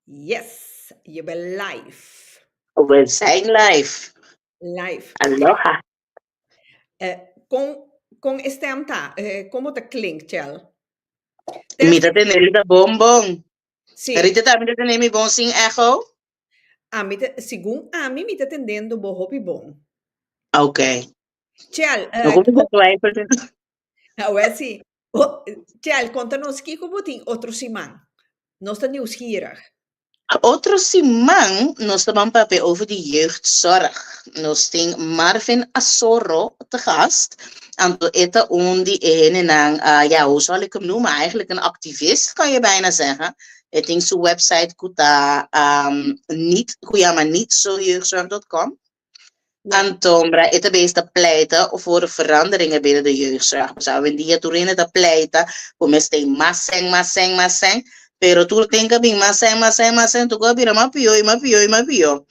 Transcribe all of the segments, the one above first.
Yes, je ben live. We zijn live. Live. Aloha. Eh, con, con e stem ta, eh, como te klink, Chel? Te- Mi ta tener ita bon bon. Sí, Rita ta mi ta tener mi bon sin echo. a mi te, según a mí, mi te tendendo bo hopi bon. Oké. Chel, eh, No kom ta twijfel. Awor si o Chel, konta nos kiko bo tin otro siman? Nos ta niusgierig. Otro siman nos ta ban papia over di jeugdzorg. Nos tin Marvin Asoro te gast. Anto e ta un di e hendenan, ya hoe zal ik hem noemen, eigenlijk een activist kan je bijna zeggen. E tin su website ku ta niet, ku yama nietzojeugdzorg dot com. Antombra e ta besta pleita voor de veranderingen binnen de jeugdzorg. Pues hoevendia tur hende ta pleita cu mes ten mas seng, mas seng, mas seng, pero tur tin ca bin mas seng, mas seng, mas seng, tur cu a bira mas pio y mas pio y mas pio.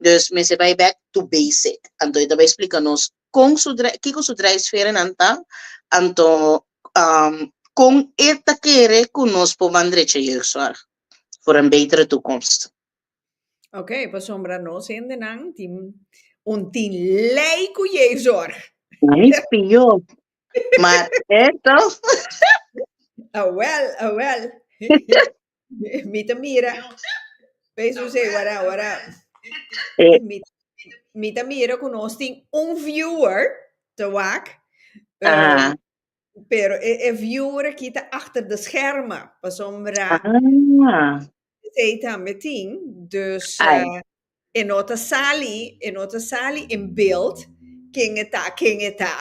Dus mester bay back to basic. Anto e ta bay splica nos con su dre-, kico su drijfveernan ta, anto con e ta kere cu nos por bandrecha jeugdzorg voor een betere toekomst. Ok, pasobra nos hendenan tin un tin lei ku Jezus. Ai, pio. Maar esto, Awel, awel. Mi ta mira. Peso se wara wara. eh, Mi, mi ta mira ku nos tin un viewer te wak. eh, ah, Pero e, e viura ki ta achter de schermen, pasobra Ah, zij tambe tin, dus ai. eh, e no ta sali, e no ta sali in beeld ken e ta, ken e ta.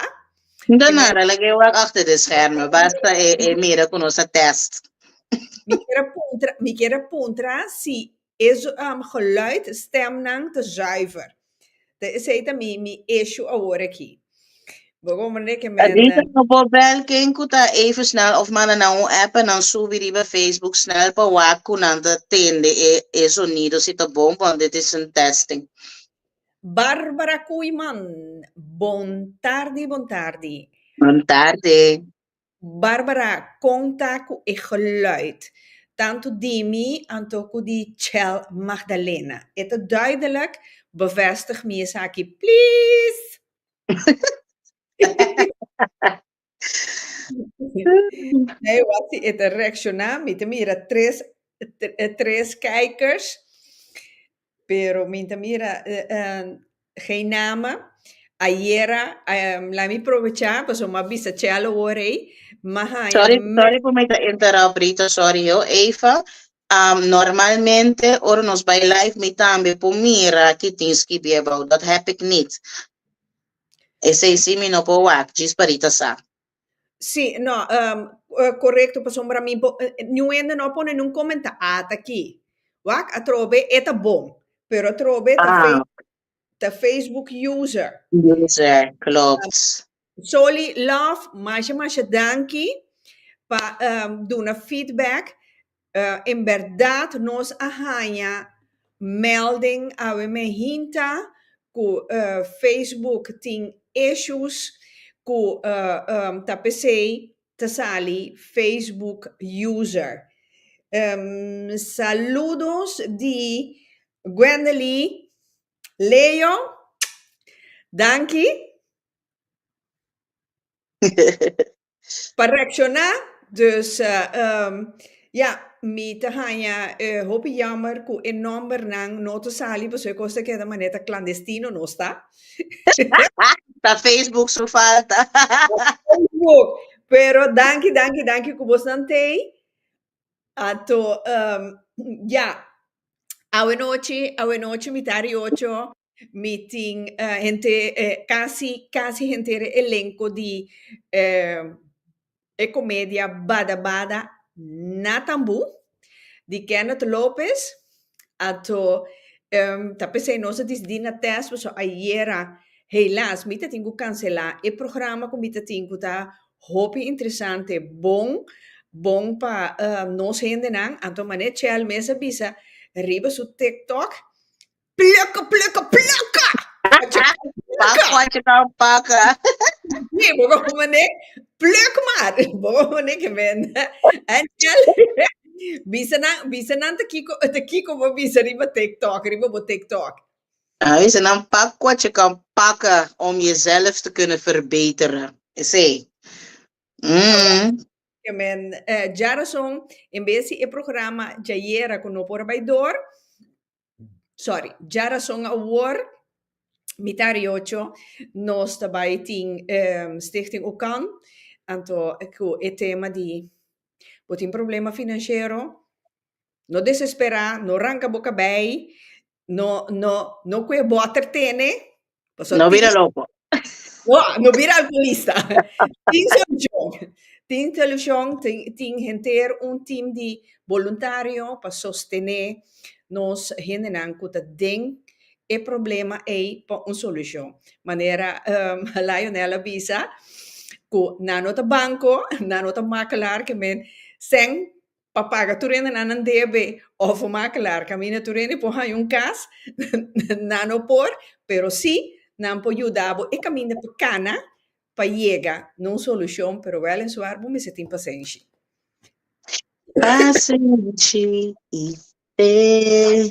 I Nta mira, nada lag'é wak achter de schermen, basta e, e mira ku nos a test. mi kier a puntra, mi kier a puntra si E geluid stemnan ta zuiver. Te esei ta mi mi issue awor aki. Bo comprende ke men. Adrica no por bel ken cu ta even snel of manda nan un app pa nan subi riba Facebook snel pa wak cu nan ta tende e sonido si ta bon want dit is een testing. Barbara Koeman Bon tardi bon tardi. Bon tarde. Barbara konta ku e geluid tantu di mi anto ku di Chel Magdalena. E ta duidelijk, bevestig mi esaki, pliz! Na e wak-si e ta reakshoná, mi ta mira tres, tres kijkers. Pero mi ta mira Geinama ayera la mi probecha pasobra mi a bisa Chelo ora ei mi haña me. Sorry por mi ta interrupt Rita sorry ho Eva normalmente ora nos bay live mi tambe por mira ki tin skibi about dat heb ik nit esey si mi no por wak djis pa Rita sa. Si, nò, korekto, pasobra mi bo niun hende no a pone niun komentá ataki. Wak, atrobe e ta bon, pero atrobe ta Fe ta Facebook user. User, klopt. Soli Love, masha masha danki pa duna feedback. En bèrdat nos a haña mèlding awe mehinta ku Facebook tin issues ku ta p'esei ta sali Facebook user. Saludos di Gwendely Leo. Danki. Pa reacciona dus ya mi ta haña hopi yammer cu e nombernan no ta sali pasobra e cos ta keda manera ta clandestino no sta. Ta Facebook su falta. Facebook, pero danki danki danki cu bos nan tey ato ya awenochi awenochi mitad di ocho. Mi tin henter, casi, casi henter e elenco di e comedia Bada Bada na Tambu, di Kenneth Lopez, ato ta pesey nos a disidí na test, pasobra ayera, helas, mi ta tin cu cancelá e programa cu mi ta tin cu ta hopi interesante, bon, bon pa nos hendenan, anto mane Chel mes a bisa riba su tiktok, Plaka, plaka, plaka! Pak pochi ta un paka. Sí, bo kon mané pluk mar. Bo kon mané ke benda. Angel, bisa nan, bisa nan ta kiko, ta kiko bo bisa riba TikTok, riba bo TikTok. Ah, bisa nan pak pochi kan paka om jezelf te kunnen verbeteren. Esei. Mm. Ke men, eh, djarason, en bes di e programa djayera ku no por a bai dor, sorry, dja rason awor, mita riocho, nos ta bai tin um Stichting Ukan, anto ku e tema di bo tin problema finanshero, no desesperá, no ranka bo kabei, no no no kue bòter tene, Pasobra no bira loko. No, no bira alkoholista. tin solucion. Tin solucion, tin, tin henter un team di voluntario pa sostene nos hendenan cu ta den e problema ei pa un solucion. Manera um, Lionel a bisa cu nan no ta banco, nan no ta makelaar, ke men, sèn pa paga tur hende nan nan debe of bo maak klaar kaminda tur hende por haña un kas, nan no por, pero sí nan por yuda bo e kaminda pa kana pa yega na un solushon, pero wèl en suar bo mester tin pasenshi. Pasenshi i fe.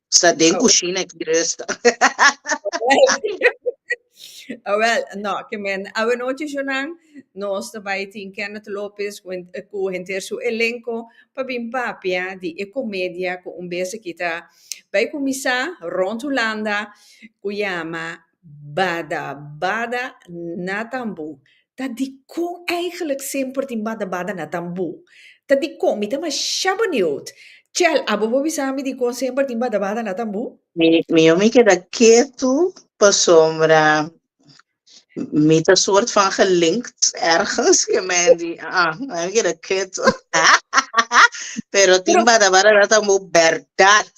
Sa den kushina ki resta. Awel, no, ke men awe nochi junan nos ta bai tin Kenneth Lopez ku ku henter su elenko pa bin papia di e komedia ku un bes aki ta bai kuminsá rònt Hulanda ku yama Bada bada na tambu. Ta dikon eigenlijk semper tin bada bada na tambu? Ta dikon? Mi ta masha beniut. Chel, abo por bisa mi dikon semper tin bada bada na tambu? Mi yo mi keda ketu pasobra mi ta soort van gelinkt ergens ke Mandy. Aa mi keda ketu. Pero tin bada bada na tambu berdad.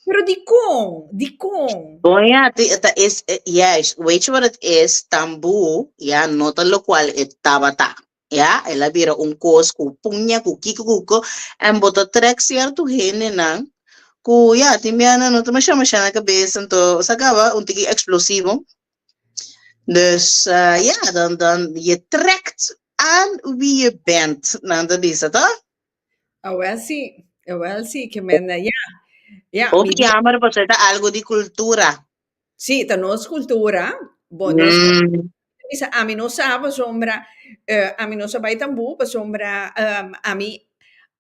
Pero dikon? Dikon? Bon ya, ti, ta es, eh, juist, weet je wat het is? Tamboe, ja, no ta locual e tabata, ja, el a bira un koos ku puña, ku kiko, ku ko, en bo ta trek cierto hendenan, ku ja, tin bianan no ta masha masha na kabes, anto, sa kaba, un tiki explosivo, dus, eh, ja, dan, dan, je trekt aan wie je bent, nan ta bisa, to? Awel si, awel si ke men a ya, ya. Hopi mi jammer paso e ta algo di cultura. Si, ta nos cultura, bo nos cultura. Mm. Bisa ami no sa pasobra eh, ami no sa bai tambu pasobra em, ami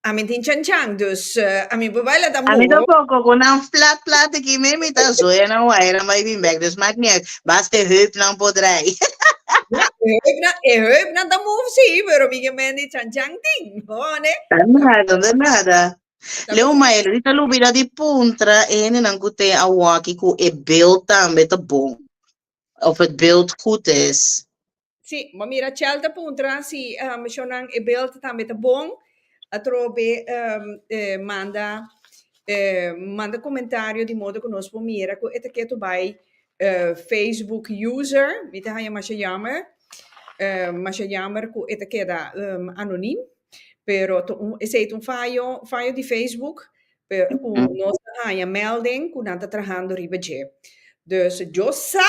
ami tin chan chan, dus eh, ami por baila tambu. Ami tampoco, con nan flat flat aquí me mi ta zoe nan wire nan bai bin back, dus maakt ni uit, basta e heup nan por draai. Ja, e heupnan, e heupnan ta move si, pero mi ke men di chan chan tin. Hone. Ta nada, ta nada. Leo Mayer, di ta lubida di puntra e hende nan ku te a waki ku e beeld tambe ta bon. Of e beeld kut es. Si, bo mira Chel ta puntra si um shonnan e beeld tambe ta bon atrobe um e manda e manda komentario di modo ku nos por mira ku e ta ke tur bai Facebook user, mi ta haña masha yammer, masha yammer cu e ta keda anonim, pero ta un, esey ta un fayo, fayo di Facebook, pero cu nos ta haña melding cu nan ta trahando riba dje. Dus yo sa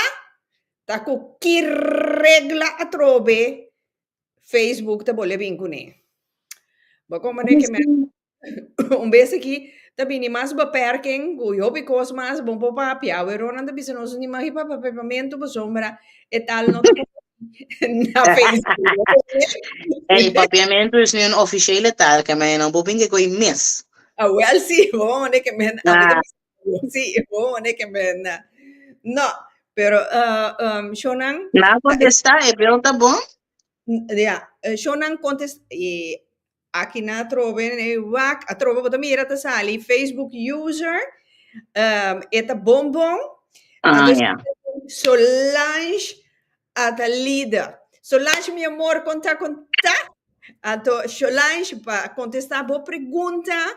ta cu ki regla atrobe Facebook ta bolbe a bin cune. Bo con bo ne ke mester. Un bes aki ta bini mas beper ken ku e hopi kos mas bon por papia. Aweron nan ta bisa nos ni magi pa papepamentu paso mira e tal no ta na Facebook. Ey, papiamentu es mi un ofishele tal ke men no bo bin ke ko i mes. Awel si, bo a one ke men a mita bisa si bo a one ke men na. No, pero uh, um, shownan Na kontesta, e bel ta bon? Ya, Shonnan kontes e aki nan atrobe e wak atrobe bo ta mira ta sali facebook user e ta bonbon a escribi solange a ta lida solange mi amor konta konta a to solange pa kontesta bo pregunta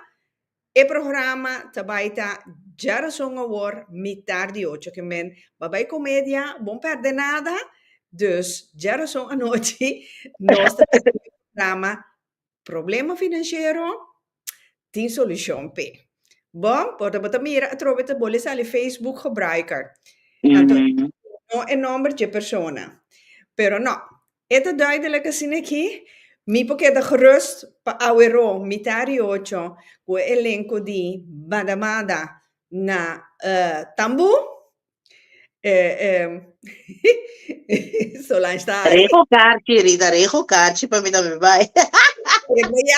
E programa ta bai ta Djarason awor mitar di ocho kimen ba bai komedia bon perde nada dus Djarason anochi nos ta tene e programa problema finanshero tin solushon p'e bo bo ta bo ta mira atrobe ta bo le sali facebook gebruiker anto no e nomber dje persona pero no E ta duidelijk asina aki, mi por keda gerust pa aweró mitá di ocho ku e elenko di Mada Mada na Tambu. Solange ta hari. Rego karchi, Rita, rego karchi pa mi tambe bai. Rego ya.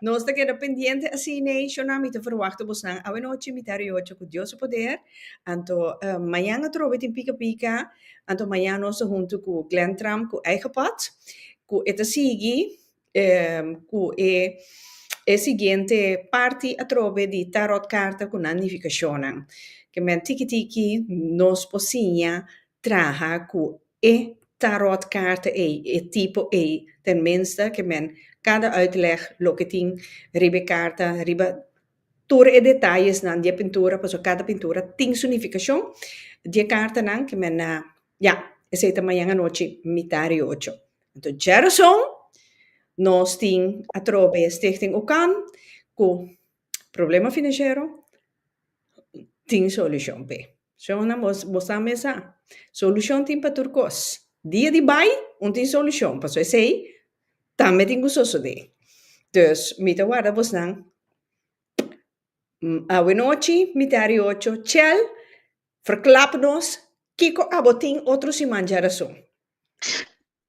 Nos ta keda pendiente así nation nan mi ta verwachta bos nan awe nochi mi ta riochi cu Dios su poder anto mañan atrobe tin pica pica anto mañan nos ta hunto cu Glen Trump cu eigen pot cu e ta sigui cu e siguiente parti atrobe di tarot carta cu nan nificacionnan kimen tiki tiki nos por siña traha ku e tarot karta ei, e tipo ei, ten minste ke men kada uitleg loke tin riba e karta, riba tur e detayesnan di e pintura, pasobra kada pintura tin su nifikashon, di e kartanan ke men a ya, esei ta mañan anochi mitá di ocho. Anto djerason nos tin atrobe Stichting Ukan ku Problema financiero tin solucion p'e. Shonnan bo bo sa mesa solucion tin pa tur cos. Dia di bai un tin solucion paso esey tambe tin cu sosode. Dus mi ta warda bos nan awe nochi miti a riocho chel verklap nos kico abo tin otro siman djarason.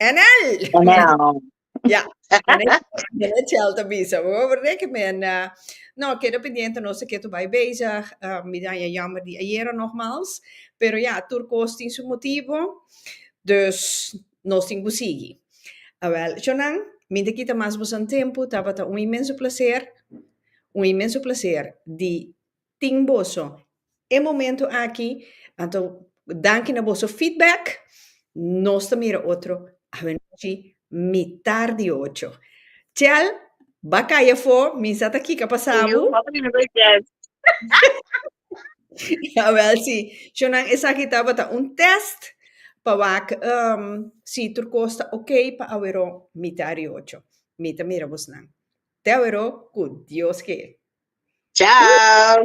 Enel! Enel. Ya, Enel Chel ta bisa bo, berde ke men no keda pendiente no se ketu bai bezig, mi danja jammer di ayera nogmals, pero ya tur kos tin su motibo, dus nos tin ku sigui. Awel, chonan, mi ta kita mas boso tempu, tabata un inmenso placer, un inmenso placer di tin boso e momento aki anto danki na boso feedback nos ta mira otro avenochi mitar di ocho chel ba cay afo mi sa ta kika pa sabu awel si cho nan esaki tabata un test pa wak si tur cos ta ok pa awero mitar di ocho mi ta mira bos nan te awero cu Dios ke. Ciao.